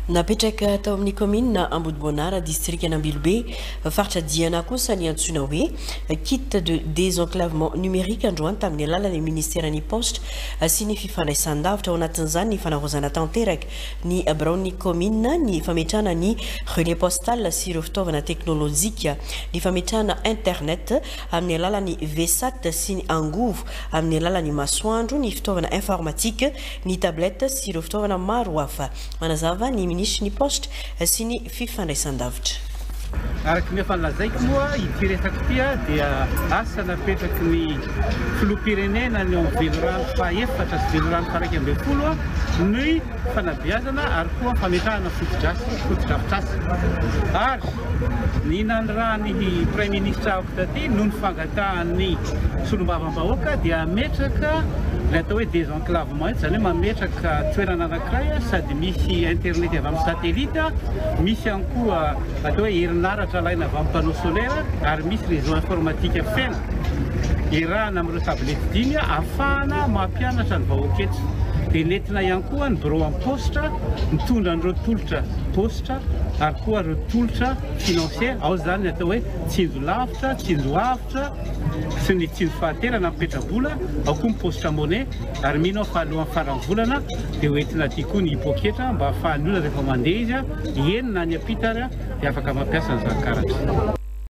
Napetraka tao amin'ny kaominina Ambodiboanara, distrikan'Ambilobe, faritra Diana kosa ny antsoina hoe Kit de désenclavement numérique androany tamin'ny alalan'ny minisiteran'ny Paositra sy ny fifandraisan-davitra, ao anatin'izany ny fanavaozana tanteraka ny biraon'ny kaominina, ny fametrahana ny relais postal sy ireo fitaovana teknolojika, ny fametrahana internet amin'ny alalan'ny VSAT sy ny angovo amin'ny alalan'ny masoandro, ny fitaovana informatique. ny tablettes sy ireo fitaovana maro hafa, manazava ny minisitry ny Paositra sy ny fifandraisandavitra. Araka ny efa nolazaiko moa, ity resaka ity dia asa napetraky ny Filoham-pirenena ny eo amin'ny Velirano fahaefatra sy Velirano faha-iraika ambin'ny folo ny fanabeazana ary koa fametrahana fotodrafitrasa fotodrafitrasa ary ny nanirahan'ny Praiminisitra avy taty noho ny fangatahan'ny Solombavambahoaka dia hametraka ilay atao hoe Clave maintso izany hoe mametraka toerana anankiray sady misy internet avy amin'ny satellite, misy ihany koa atao hoe herinaratra alaina avy amin'ny panneau solaire ary misy réseau informatique feno iarahana amin'ireo tablette dimy ahafahana mampianatra ny vahoaka eto. Dia nentina ihany koa ny birao amin'ny paositra mitondra an'ireo tolotra paositra ary koa ireo tolotra financier, ao izany ny atao hoe tsinjo lavitra, tsinjo avo. Asa sy ny tsindry fahaterana amin'ny petrabola, ao koa ny paositra money, ary mino aho fa alohan'ny faran'ny volana dia ho entina aty koa ny poketra mba ahafahan'ny olona rehefa mandeha izy hienina any ampita ary dia afaka mampiasa an'izany karatra.